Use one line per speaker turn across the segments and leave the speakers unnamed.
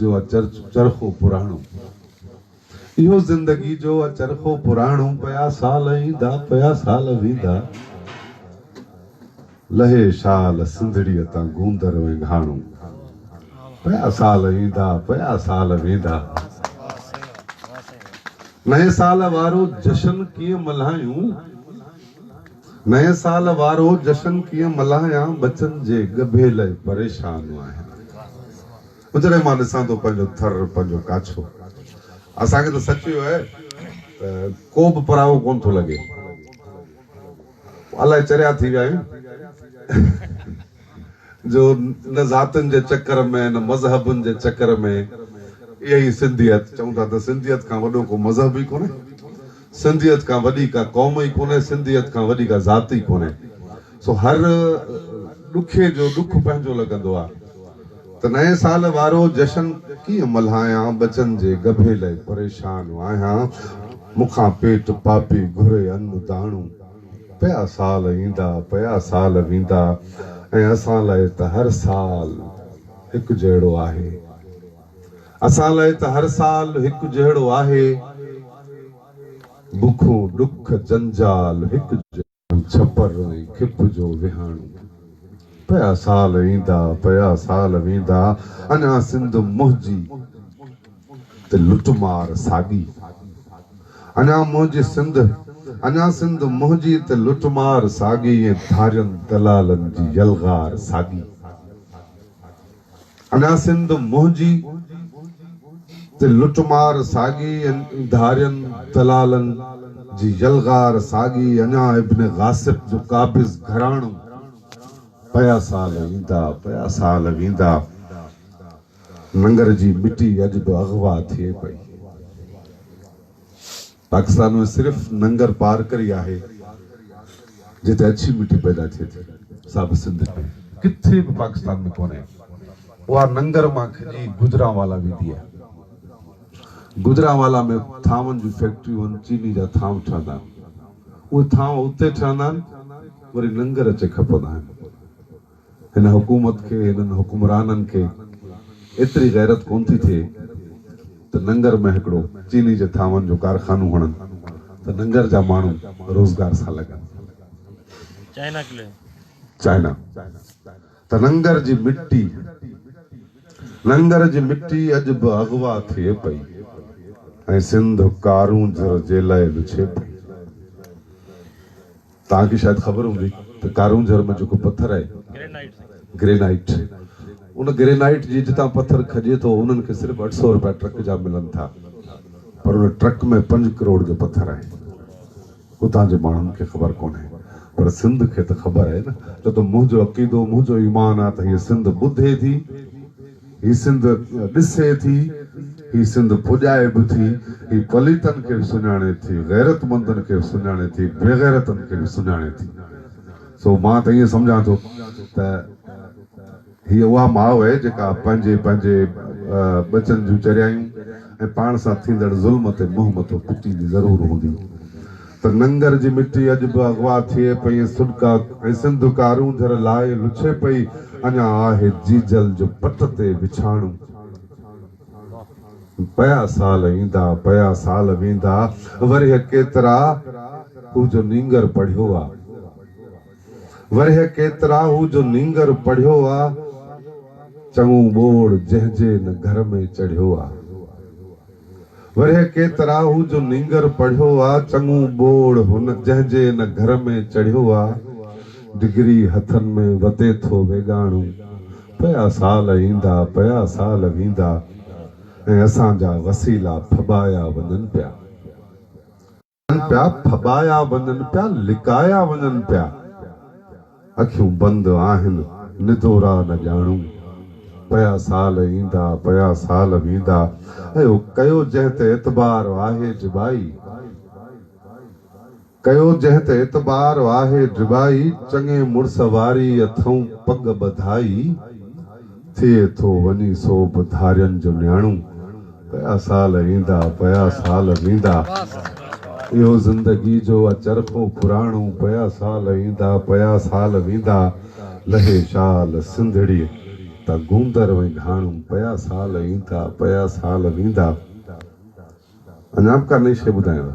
جو اچرخو پراڻو اهو زندگي جو اچرخو پراڻو پيا سال ايندا پيا سال ويندا لهي شال سنڌڙيء تان گوندر وينگهاڻو پيا سال ايندا پيا سال ويندا نئين سال وارو جشن ڪيئن ملهايون نئين سال وارو جشن ڪيئن ملهايان ٻچن جي ڳڀي لئي پريشان آهيان اجري مان ڏسان ٿو پنهنجو ٿر، پنهنجو ڪاڇو. اسان کي ته سچ اهو آهي ته ڪو به پرايو ڪونه ٿو لڳي. الائي چريا ٿي ويا آهيون جو نه ذاتين جي چڪر ۾ نه مذهبن جي چڪر ۾ اهي ئي سنڌيت چئون ٿا ته سنڌيت کان وڏو ڪو مذهب ئي ڪونه. سنڌيت کان وڏي ڪا قوم ئي ڪونهي، سنڌيت کان وڏي ڪا ذات ئي ڪونهي. سو هر ڏکي جو ڏک پنهنجو لڳندو آ ته نئين سال وارو جشن ڪيئن ملهايان ٻچن جي ڳڀي لئي پريشان آهيان مون کان پيٽ پاپي گهري ان داڻو پيا سال ايندا پيا سال ويندا ۽ اسان لئي ته هر سال هڪجهڙو آهي. اسان لاء ته هر سال هڪ جهڙو آهي، بکون، ڏک، جنجال هڪ جهڙو. ڇپر ۽ کپ جو وهاڻو. پيا سال ايندا، پيا سال ويندا، اڃا سنڌ منهنجي ته لٽ مار ساڳي. اڃا منهنجي سنڌ، اڃا سنڌ منهنجي ته لٽ مار ساڳي ۽ ڌارين دلالن جي يلغار ساڳي. اڃا سنڌ منهنجي تي لٽ مار ساڳي ۽ ڌارين دلالن جي يلغار ساڳي اڃا ابن غاصب جو قابض گهراڻو پيا سال ايندا پيا سال ويندا ننگر جي مٽي اڄ به اغوا ٿئي پئي. پاڪستان ۾ صرف ننگر پارڪر ئي آهي جتي اڇي مٽي پيدا ٿئي ٿي، سا به سنڌ ۾ ڪٿي به پاڪستان ۾ ڪونهي. اها ننگر مان کڄي گوجرانوالا ويندي آهي. گوجرانوالا ۾ ٿانون جون فيڪٽريون آهن، چيني جا ٿانو ٺهندا آهن. اهي ٿانو اتي ٺهندا آهن، وري ننگر اچي کپندا آهن. هن حڪومت کي هنن حڪمرانن کي ايتري غيرت ڪون ٿي ٿئي ته ننگر ۾ هڪڙو چيني جي ٿانون جو ڪارخانو هڻن ته ننگر جا ماڻهو روزگار سان لڳن. China clay. چائنا ته ننگر جي مٽي ننگر جي مٽي اڄ به اغوا ٿئي پئي ۽ سنڌ ڪارونجهر جيلئي وڇي پئي. توهان کي شايد خبر هوندي ته ڪارونجهر ۾ جيڪو پٿر آهي گرينائيٽ ان گرينائيٽ جي جتان پٿر کڄي ٿو انهن کي صرف اٺ سؤ رپيا ٽرڪ جا ملن ٿا پر ان ٽرڪ ۾ پنج ڪروڙ جو پٿر آهي اتان جي ماڻهن کي خبر ڪونهي پر سنڌ کي ته خبر آهي نه ڇو ته منهنجو عقيدو منهنجو ايمان آهي ته هيء سنڌ ٻڌي ٿي هي سنڌ ڏسي ٿي، هي سنڌ پڄائي به ٿي، هي پليتن کي به سڃاڻي ٿي، غيرتمندن کي به سڃاڻي ٿي، بيغيرتن کي به سڃاڻي ٿي. سو مان ته ائين سمجهان ٿو ته هيء اها ماء آهي جيڪا پنهنجي پنهنجي ٻچن جون چريائيون ۽ پاڻ سان ٿيندڙ ظلم تي منهن مٿو پٽيندي ضرور هوندي. ته ننگر جي مٽي اڄ به اغوا ٿئي پئي ۽ سڏڪا ۽ سنڌ ڪارون جھر لاهي لڇي پئي، اڃا آهه جيجل جو پٽ تي وڇاڻو. پيا سال ايندا، پيا سال ويندا، ورهيه ڪيترا هو جو نينگر پڙهيو آ. ورهيه ڪيترا هو جو نينگر پڙهيو آ، چڱو ٻوڙ جنهن جي نه گھر ۾ چڙهيو آ. ورهيه ڪيترا هو جو نينگر پڙهيو آ، چڱو ٻوڙ هن جنهن جي ان گهر ۾ چڙهيو آ، ڊگري هٿن ۾ وتي ٿو ويڳاڻو، پيا سال ايندا، پيا سال ويندا ۽ اسان جا وسيلا ڦٻايا وڃن پيا. ڪن پيا، ڦٻايا وڃن پيا، لڪايا وڃن پيا. اکيون بند آهن، ندورا نه ڄاڻون. پيا سال ايندا، پيا سال ويندا. اهو ڪيو جنهن تي اعتبار آهي جبائي. ڪيو جنهن تي اعتبار آهي جبائي. چڱي مڙس واري اٿئون پڳ ٻڌائي. ٿئي ٿو وڃي سو به ڌارين جو نياڻو پيا سال ايندا پيا سال ويندا اهو زندگي جو آ چرخو پراڻو پيا سال ايندا پيا سال ويندا لهي شال سنڌڙي ته گوندر وئي گهاڻو پيا سال ايندا پيا سال ويندا اڃا به ڪا نئين شيء ٻڌايان ٿا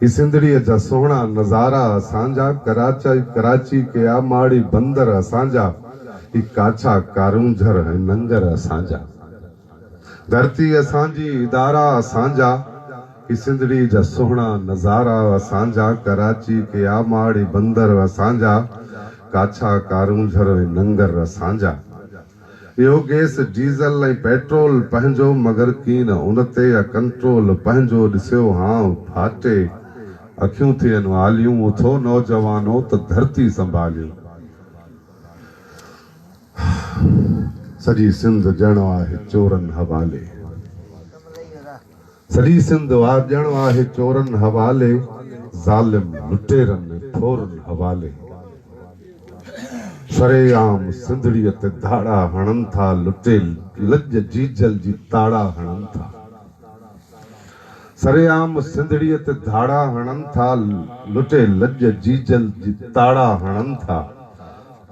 هي سنڌڙيء جا سهڻا نظارا اسان جا، ڪراچي ڪراچي ڪيا، ماڙي بندر اسان جا، هي ڪاڇا ڪارونجهر ۽ ننگر اسان جا، ڌرتي اسان جي، ادارا اسان جا، هي سنڌڙيء جا سهڻا نظارا اسان جا، ڪراچي ڪيا، ماڙي بندر اسان جا، ڪاڇا ڪارونجهر ۽ ننگر اسان جا. اهو گيس، ڊيزل ۽ پيٽرول پنهنجو مگر ڪين ان تي يا ڪنٽرول پنهنجو ڏسيو هانء ڦاٽي اکيون ٿين واليون اٿو نوجوانو ته ڌرتي سنڀاليون. سڄي سنڌ ڄڻ آهي چورن حوالي. سڄي سنڌ وار ڄڻ آهي چورن حوالي ظالم لٽيرن ٺورن حوالي شري عام سنڌڙي تي ڌاڙا هڻن ٿا لٽي لڄ جيجل جي تاڙا هڻن ٿا سري عام سنڌڙي تي ڌاڙا هڻن ٿا لٽي لڄ جيجل جي تاڙا هڻن ٿا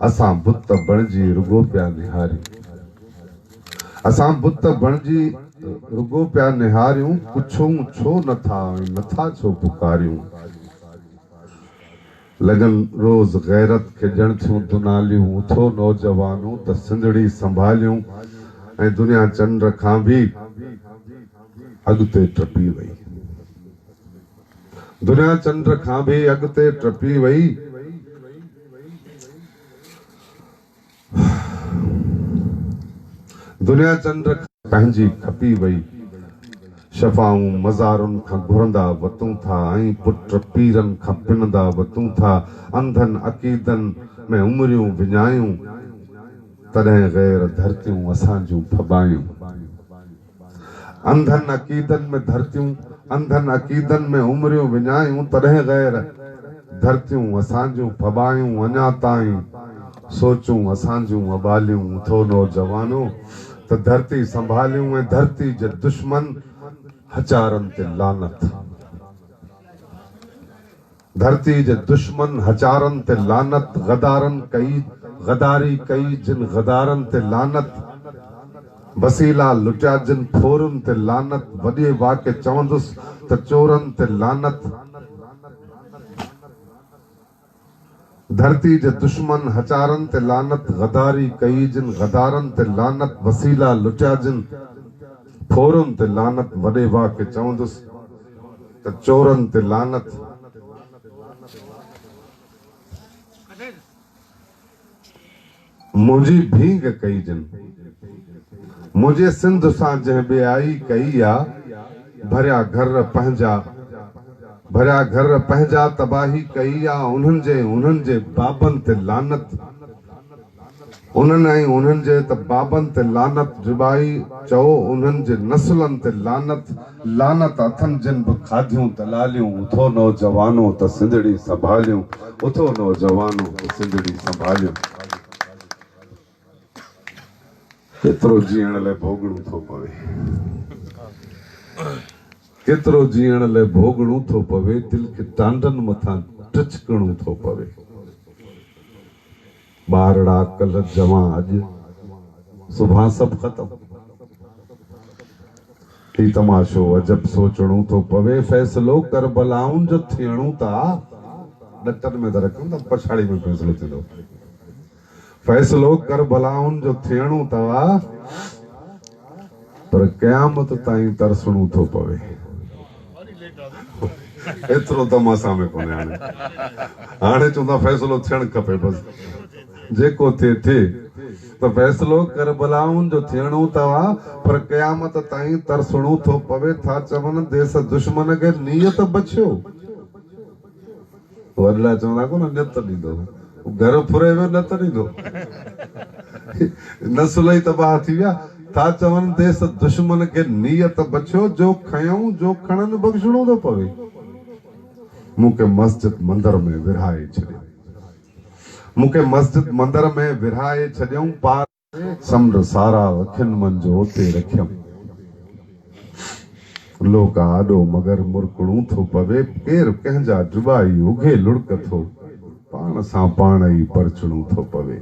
اسان بت بڻجي رڳو پيا نهاريون اسان بت بڻجي رڳو پيا نهاريون، پڇون ڇو نه ٿا ۽ نه ٿا ڇو پڪاريون. لڳن روز غيرت کي ڄڻ ٿيون دوناليون، اٿو نوجوانو ته سنڌڙي سنڀاليون ۽ دنيا چنڊ کان به اڳتي ٽپي وئي. دنيا چنڊ کان به اڳتي ٽپي وئي. دنيا چنڊ کان پنهنجي کپي وئي. شفائون مزارن کان گهرندا وتون ٿا ۽ پٽ پيرن کان پنندا وتون ٿا. انڌن عقيدن ۾ عمريون وڃايون. تڏهن غير ڌرتيون اسان جون ڦٻايون. انڌن عقيدن ۾ ڌرتيون، انڌن عقيدن ۾ عمريون وڃايون تڏهن غير، ڌرتيون اسان جون ڦٻايون اڃا تائين سوچون اسان جون اٻاليون اٿو نوجوانو ته ڌرتي سنڀاليون ۽ ڌرتي جي دشمن هچارن تي لعنت. ڌرتي جي دشمن هچارن تي لعنت غدارن ڪئي غداري ڪئي جن غدارن تي لعنت وسيلا لٽيا جن ڦورن تي لعنت وڏي واڪي چوندس ته چورن تي لعنت. ڌرتي جي دشمن هچارن تي لعنت غداري ڪئي جن غدارن تي لعنت وسيلا لٽيا جن ڦورن تي لعنت وڏي واء کي چوندس ته چورن تي لعنت منهنجي ڀينگ ڪئي جن. منهنجي سنڌ سان جنهن ٻيائي ڪئي آ، ڀريا گهر پنهنجا، ڀريا گهر پنهنجا تباهي ڪئي آ، انهن جي ۽ انهن جي بابن تي لعنت، انهن ۽ انهن جي ته بابن تي لعنت، رباعي، چئو انهن جي نسلن تي لعنت. لعنت اٿن جن به کاڌيون دلاليون اٿو نوجوانو ته سنڌڙي سنڀاليون اٿو نوجوانو ته سنڌڙي سنڀاليون ڪيترو جيئڻ لئه ڀوڳڻو ٿو پوي ڪيترو جيئڻ لئه ڀوڳڻو ٿو پوي دل کي ٽانڊن مٿان ٽڇڪڻو ٿو پوي. ٻارڙا ڪلھ جمع اڄ سڀان سڀ ختم ھي تماشو عجب سوچڻو ٿو پوي فيصلو ڪربلائن جو ٿيڻو ٿا ڏٽن ۾ ٿا رکن ته پڇاڙي ۾ فيصلو ٿيندو فيصلو ڪربلائن جو ٿيڻو ٿا پر قيامت تائين ترسڻو ٿو پوي. ايترو دم اسان ۾ ڪونهي هاڻي. هاڻي چون ٿا فيصلو ٿيڻ کپي بس. جيڪو ٿئي ٿئي. ته فيصلو ڪربلائن جو ٿيڻو ته آ پر قيامت تائين ترسڻو ٿو پوي. ٿا چون ديس دشمن کي نيت بڇيو. وري لاء چون ٿا ڪونه نت ڏيندو گهر ڦري ويو نت ڏيندو نسل ئي تباهه ٿي ويا ٿا چون ديس دشمن کي نيت بڇيو جو کنيون جو کڻن بخشڻو ٿو پوي مون کي مسجد مندر ۾ ورهائي ڇڏيو مون کي مسجد مندر ۾ ورهائي ڇڏيو پار سمنڊ سارا اکين منجهه اتي رکيم. لوڪ آڏو مگر مرڪڻو ٿو پوي ڪير ڪنهن جا ڊٻائي اگهي لڙڪ ٿو پاڻ سان پاڻ ئي پرچڻو ٿو پوي.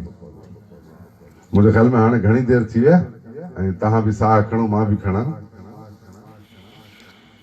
منهنجي خيال ۾ هاڻي گهڻي دير ٿي وئي آهي ۽ توهان به ساهه کڻو مان به کڻان.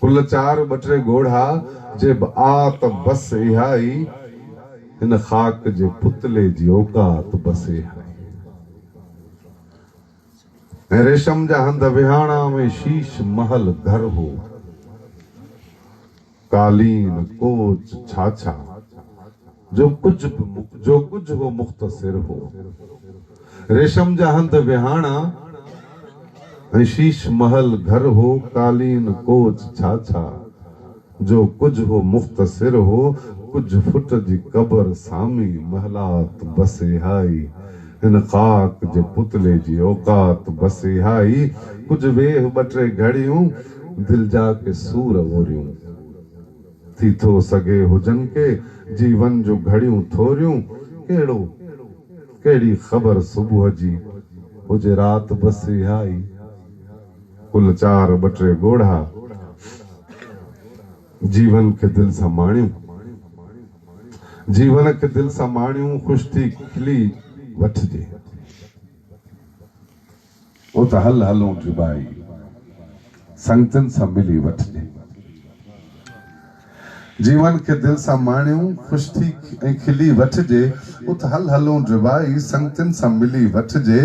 ڪل چار ٻه ٽي ڳوڙها جي به آ ته بس اها ئي هن خاڪ جي پتلي جي اوقات بس اها ئي ۽ ريشم جا هنڌ وهاڻا ۾ شيش محل گهر هو. قالين، ڪوچ، ڇاڇا، جو ڪجهه به جو ڪجهه هو مختصر هو. ريشم جا هنڌ ويهاڻا ۽ شيش محل گهر هو. قالين، ڪوچ، ڇاڇا، جو ڪجهه هو مختصر هو. ڪجهه فٽ جي قبر سامي محلات بس اهائي. هن خاڪ جي پتلي جي اوقات بس اهائي. ڪجهه ويهه ٻه ٽي گهڙيون. دل جا ڪي سور اوريون ٿي ٿو سگهي هجن ڪي جيون جون گهڙيون ٿوريون ڪهڙو ڪهڙي خبر صبح جي هجي رات بس اها ئي ڪل چار ٻه ٽي ڳوڙها جيون کي دل سان ماڻيون جيون کي دل سان ماڻيون خوش ٿي کلي وٺجي. هو ته هل هلون ٿي ڀائي، سنگتين سان ملي وٺجي. جيون کي دل سان ماڻيون، خوش ٿي ۽ کلي وٺجي. هو ته هل هلون ٿي ڀائي، سنگتين سان ملي وٺجي.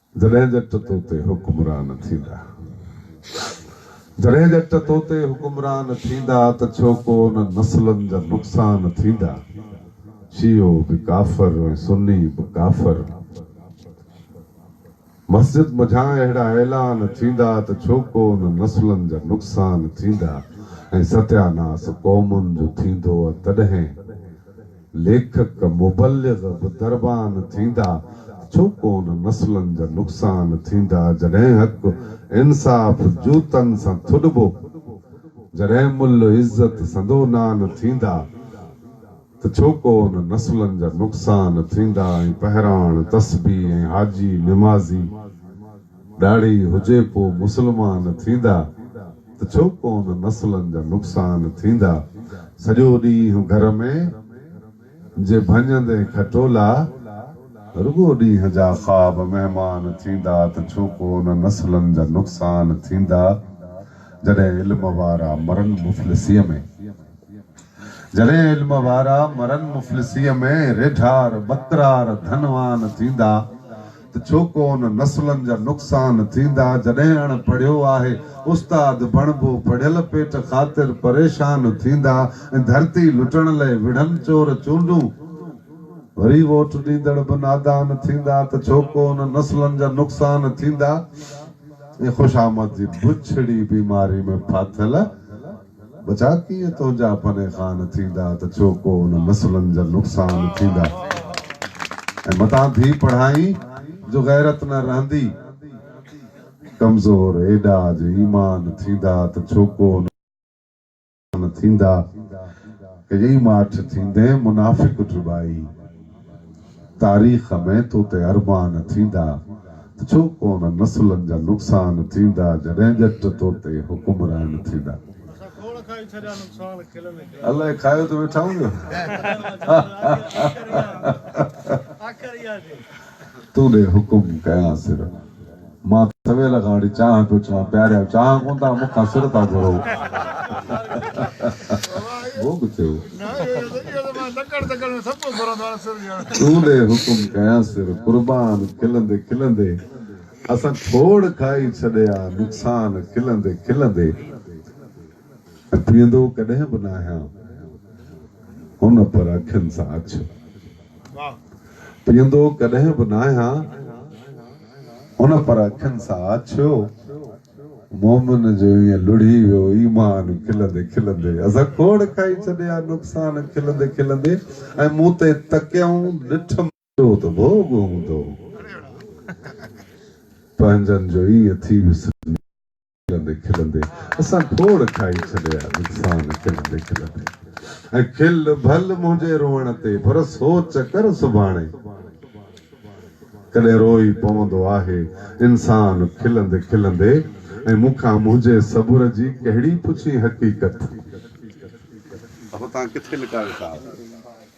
جڏهن جٽ تو تي حڪمران ٿيندا جڏهن جٽ تو تي حڪمران ٿيندا ته ڇو ڪو ان نسلن جا نقصان ٿيندا شيعو به ڪافر ۽ سني به ڪافر مسجد منجهان اهڙا اعلان ٿيندا ته ڇو ڪو ان نسلن جا نقصان ٿيندا ۽ ستياناس قومن جو ٿيندو ۽ تڏهن ليکڪ مبلغ به دربان ٿيندا ڇو ڪون نسلن جا نقصان ٿيندا جڏهن حق انصاف جوتن سان ٿڏبو جڏهن مل عزت سندو نان ٿيندا ته ڇو ڪون نسلن جا نقصان ٿيندا ۽ پهراڻ تسبيح ۽ حاجي نمازي ڏاڙهي هجي پو مسلمان ٿيندا ته ڇو ڪون نسلن جا نقصان ٿيندا سڄو ڏينهن گهر ۾ جي ڀڃندين کٽولا رڳو ڏينهن جا خواب مهمان ٿيندا ته ڇو ڪون نسلن جا نقصان ٿيندا جڏهن علم وارا مرن مفلسيء ۾ جڏهن علم وارا مرن مفلسيء ۾ ريڍار ٻڪرار ڌنوان ٿيندا. ته ڇو ڪون نسلن جا نقصان ٿيندا جڏهن اڻ پڙهيو آهي استاد بڻبو پڙهيل پيٽ خاطر پريشان ٿيندا ۽ ڌرتي لٽڻ لئي وڙهن چور چونڊون وري ووٽ ڏيندڙ به نادان ٿيندا ته ڇو ڪون نسلن جا نقصان ٿيندا ۽ خوش آمد جي بڇڙي بيماري ۾ ڦاٿل ٻچا ڪيئن تنهنجا پني خان ٿيندا ته ڇو ڪو ان نسلن جا نقصان ٿيندا ۽ متان ڌي پڙهائين جو غيرت نه رهندي ڪمزور ايڏا جو ايمان ٿيندا ته ڇو ڪو ان نقصان ٿيندا ڪيئي ماٺ ٿيندين منافق ڊٻائي. تاريخ ۾ تو تي ارمان ٿيندا ته ڇو ڪونه نسلن جا نقصان ٿيندا جڏهن ڄٽ تو تي حڪمران ٿيندا. الائي کايو ته ويٺا هونديو. تون ڏي حڪم ڪيان صرف. مان ته سويل کان وٺي چانهه پيو ڇان پياريا چانهه ڪونه ٿا مون کان سر ٿا گهرو ڀوڳ ٿيو تون ڏي حڪم ڪيان سر قربان کلندي کلندي اسان کوڙ کائي ڇڏيا نقصان کلندي کلندي. ٿيندو ڪڏهن به ناهيان هن پر اکين سان اڇ پيئندو ڪڏهن به ناهيان هن پر اکين سان اڇيو مومن جو ائين لڙهي ويو ايمان کلندي کلندي اسان کوڙ کائي ڇڏيا نقصان کلندي کلندي ۽ مون تي تڪيائون ڏٺم ٿيو ته ڀوڳ هوندو، پنهنجن جو ائين ٿي وسرندي کلندي کلندي اسان کوڙ کائي ڇڏيا نقصان کلندي کلندي ۽ کل ڀل منهنجي روئڻ تي پر سوچ ڪر سڀاڻي ڪڏهن روئي پوندو آهي انسان کلندي کلندي ۽ مون کان منهنجي صبر جي ڪهڙي پڇين حقيقت. اهو توهان ڪٿي لڪايو صاحب.